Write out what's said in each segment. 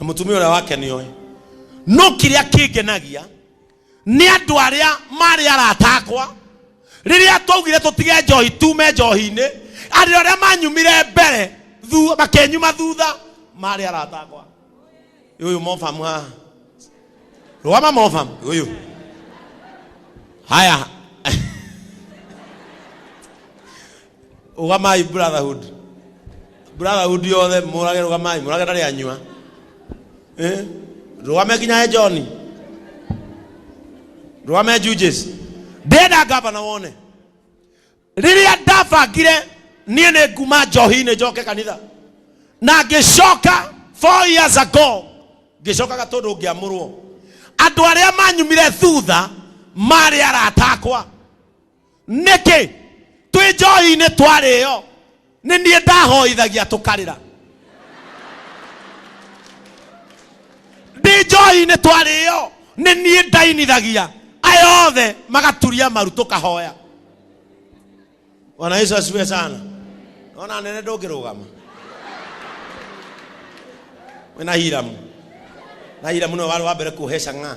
na mũtumia ũrĩa wake nĩoĩ no kĩrĩa kĩngenagia nĩ andũ arĩa marĩ arata akwa rĩrĩa twaugire tũtige njohi tume njohi-inĩ andũ arĩa manyumire mbere thu- makenyuma thutha marĩ arata akwa ũyũ mofamu haha rũgama mofamu ũyũ haya Ugamai brotherhood. Brotherhood yothe murage rugamai, murage ndari anywa. Eh? Rugame kinya he John. Rugame Juges. Ndenda gavana wone. Riria ndabangire niĩ nĩ nguma njohi-inĩ njoke kanitha na ngĩcoka four years ago ngĩcokaga tondũ ngĩamũrwo andũ arĩa manyumire thutha marĩ arata akwa nĩkĩ twĩ njohi-inĩ twarĩo nĩ niĩ ndahoithagia tũkarĩra ndĩ njohi-inĩ twarĩo nĩ niĩ ndainithagia aya othe magaturia maru tũkahoya bwana yesu asifiwe sana ona nene ndũngĩrũgama wĩna hiramu na hiramu nĩwe warĩ wa mbere kuheca ng'a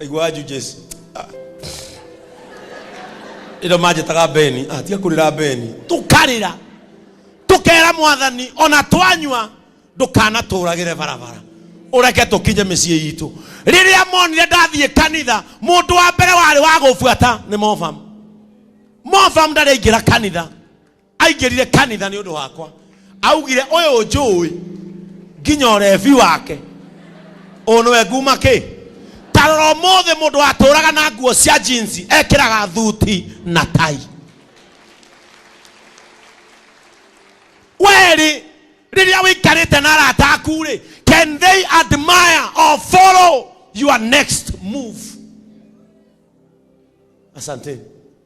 aigua anju jesu ĩno manjĩtaga beni Ah, tiga kũrĩra beni tũkarĩra tũkera mwathani ona twanyua ndũkanatũragĩre barabara ũreke tũkinye mĩciĩ itũ rĩrĩa monire ndathiĩ kanitha mũndũ wa mbere warĩ wa gũbuata nĩ mofam mofam ndarĩ aingĩra kanitha aingĩrire kanitha nĩ ũndũ wakwa augire ũyũ njũĩ nginya ũrebi wake ũyũ nĩwe nguma kĩ tarora ũmũthĩ mũndũ watũraga na nguo cia jinsi ekĩraga thuti na tai werĩ rĩrĩa wĩikarĩte na arata aku rĩ can they admire or follow your next move asanteni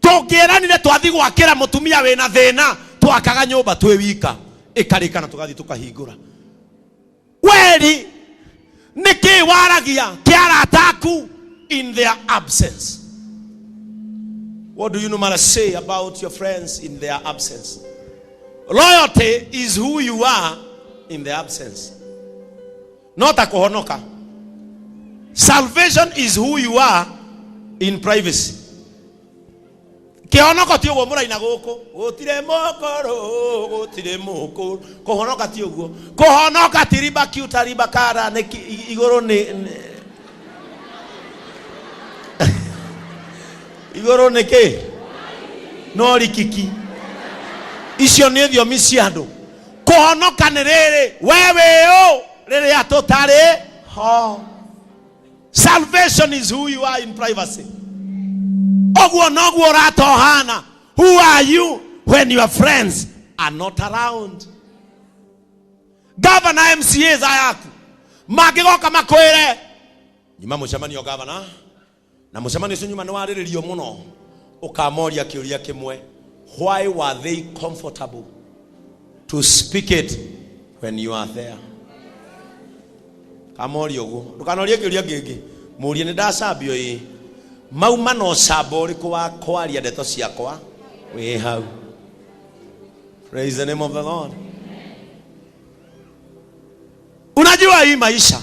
tũngĩĩranire twathi gwakĩra mũtumia wĩna thĩna twakaga nyũmba twĩ wika ĩkarĩkana tũgathi tũkahingũra weri nĩkĩ waragia kĩarataku in their absence what do you normally say about your friends in their absence loyalty is who you are in their absence not akuhonoka salvation is who you are in privacy kĩhonoko ti ũguo mũraina gũkũ gũtirĩ mũkũrũ gũtirĩ mũkũrũ kũhonoka ti ũguo kũhonoka ti riba kiuta riba kara nĩ ki- i- igũrũ nĩ nĩ- igũrũ nĩ kĩ no rikiki icio nĩ thiomi cia andũ kũhonoka nĩ rĩrĩ we wĩũ rĩrĩa tũtarĩ ho salvation is who you are in privacy ũguo noguo ũratohana who are you when your friends are not around gavana mcas ayaku mangĩgoka makwĩre nyuma mũcemanio gavana na mũcemanio ũcio nyuma nĩwarĩrĩrio mũno ũkamoria kĩũria kĩmwe why were they comfortable to speak it when you are there kamoria ũguo ndũkanorie kĩũria kĩngĩ mũrie nĩ ndacambio ĩ mau mana ũcamba ũrĩkũ wa kwaria ndeto ciakwa wĩ hau praise the name of the lord unajua hii maisha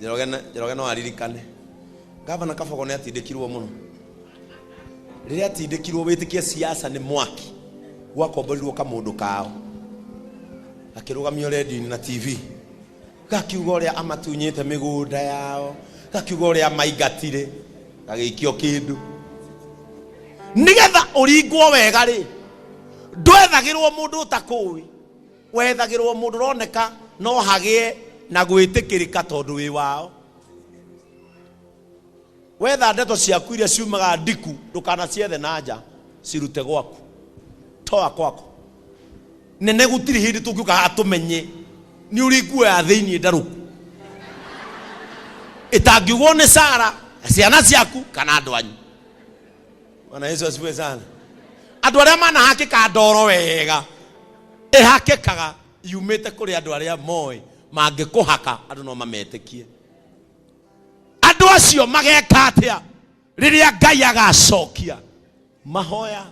Njoroge na- Njoroge no aririkane gavana Kabogo nĩ atindĩkirwo mũno rĩrĩa atindĩkirwo wĩtĩkie siasa nĩ mwaki gwakomborirwo kamũndũ kao gakĩrũgamio redio-inĩ na tv gakiuga ũrĩa amatunyĩte mĩgũnda yao gakiuga ũrĩa amaingatire gagĩikio kĩndũ nĩgetha ũringwo wega rĩ ndwethagĩrwo mũndũ ũtakũĩ Wethagĩrwo mũndũ ũroneka no hagĩe na gwĩtĩkĩrĩka tondũ wĩ wao. Wetha ndeto ciaku iria ciumaga ndiku ndũkanaciethe na nja, cirute gwaku. Toa kwako. Nene gũtirĩ hĩndĩ tũngĩũka haha tũmenye nĩ ũrĩ nguo ya thĩinĩ ndarũku ĩtangiugwo nĩ Sara, ciana ciaku kana andũ anyu. Bwana Yesu asifiwe sana. Andũ arĩa manahakĩka ndoro wega ĩhakĩkaga yumĩte kũrĩ andũ arĩa moĩ mangĩkũhaka andũ no mametĩkie. Andũ acio mageka atĩa rĩrĩa Ngai agacokia mahoya?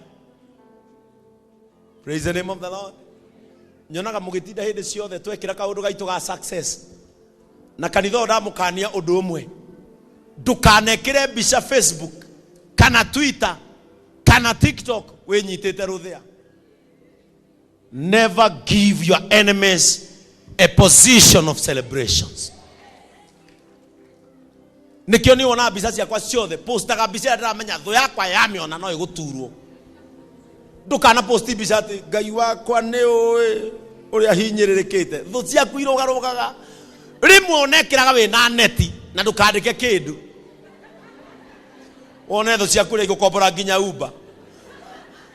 praise the name of the lord nyonaga mũgĩtinda hĩndĩ ciothe twekĩra kaũndũ gaitũ ga success na kanitha ũyũ ndamũkania ũndũ ũmwe ndũkanekĩre mbica facebook kana twitter kana tiktok wĩnyitĩte rũthĩa never give your enemies a position of celebrations nikio ni wona mbica ciakwa ciothe postaga mbica ĩrĩa ndĩramenya thũ yakwa yamĩona no ĩgũturwo ndũkana posti mbica atĩ ngai wakwa nĩ ũĩ ũrĩa hinyĩrĩrĩkĩte thũ ciaku irũgarũgaga rĩmwe onekĩraga wĩ na neti na ndũkandĩke kĩndũ wone thũ ciaku rĩa igũkombora nginya umba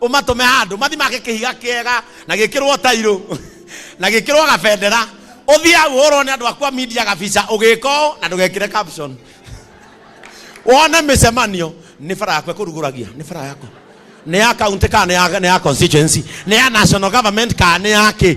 ũmatũme handũ mathi make kĩhiga kĩega na gĩkĩrwo tairũ na gĩkĩrwo gabendera ũthiĩ hau ũhũrwo nĩ andũ akwa media gabica ũgĩka ũũ na ndũgekĩre caption wone mĩcemanio nĩ bara yakwa kũrugũragia nĩ bara yakwa nĩ ya county kana nĩ ya- nĩ ya constituency nĩ ya national government kana nĩ ya kĩ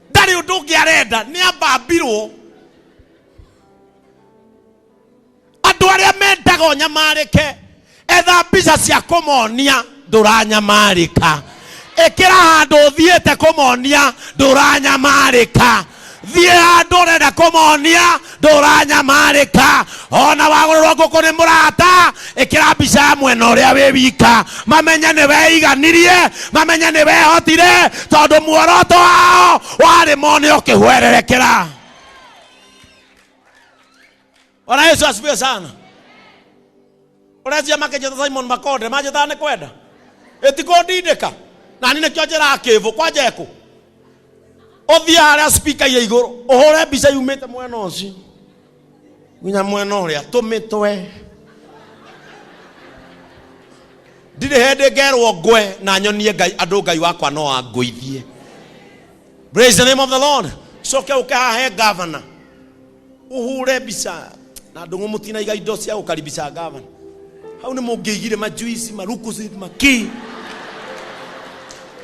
ndarĩ ũndũ ũngĩ arenda nĩ ambambirwo andũ arĩa mendaga ũnyamarĩke etha mbica cia kũmonia ndũranyamarĩka ĩkĩra handũ ũthiĩte kũmonia ndũranyamarĩka thiĩ handũ ũrenda kũmonia ndũranyamarĩka ona wagũrĩrwo ngũkũ nĩ mũrata ĩkĩra mbica ya mwena ũrĩa wĩ wika mamenye nĩ weiganirie mamenye nĩ wehotire tondũ muoroto wao warĩ mone ũkĩhwererekera bwana yesu asifiwe sana ũrecia makĩnjĩta simon makonde manjĩtaga nĩ kwenda ĩtikũndindĩka na niĩ nĩkĩo njĩraga kĩbũ kwanja ekũ ũthiĩ harĩa spika iria igũrũ ũhũre mbica yumĩte mwena ũcio nginya mwena ũrĩa tũmĩtwe ndirĩ hĩndĩ ngerwo ngwe na nyonie ngai andũ ngai wakwa no angũithie praise the name of the lord coke ũke hahe gavana uhure mbica na ndungu mutinaiga indo cia gukaribisha gavana hau ni mungiigire majuici marukusi maki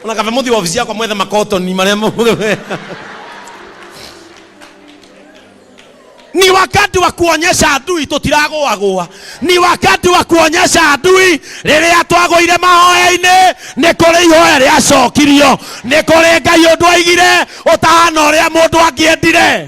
ona kaba muthi wabici yakwa mwethe makotoni maria mu- ni wakati wa kuonyesha adui tutiragũagũa ni wakati wa kuonyesha adui rĩrĩa twagũire mahoya-inĩ nĩ kũrĩ ihoya rĩacokirio nĩ kũrĩ ngai ũndũ aigire ũtahana ũrĩa mũndũ angĩendire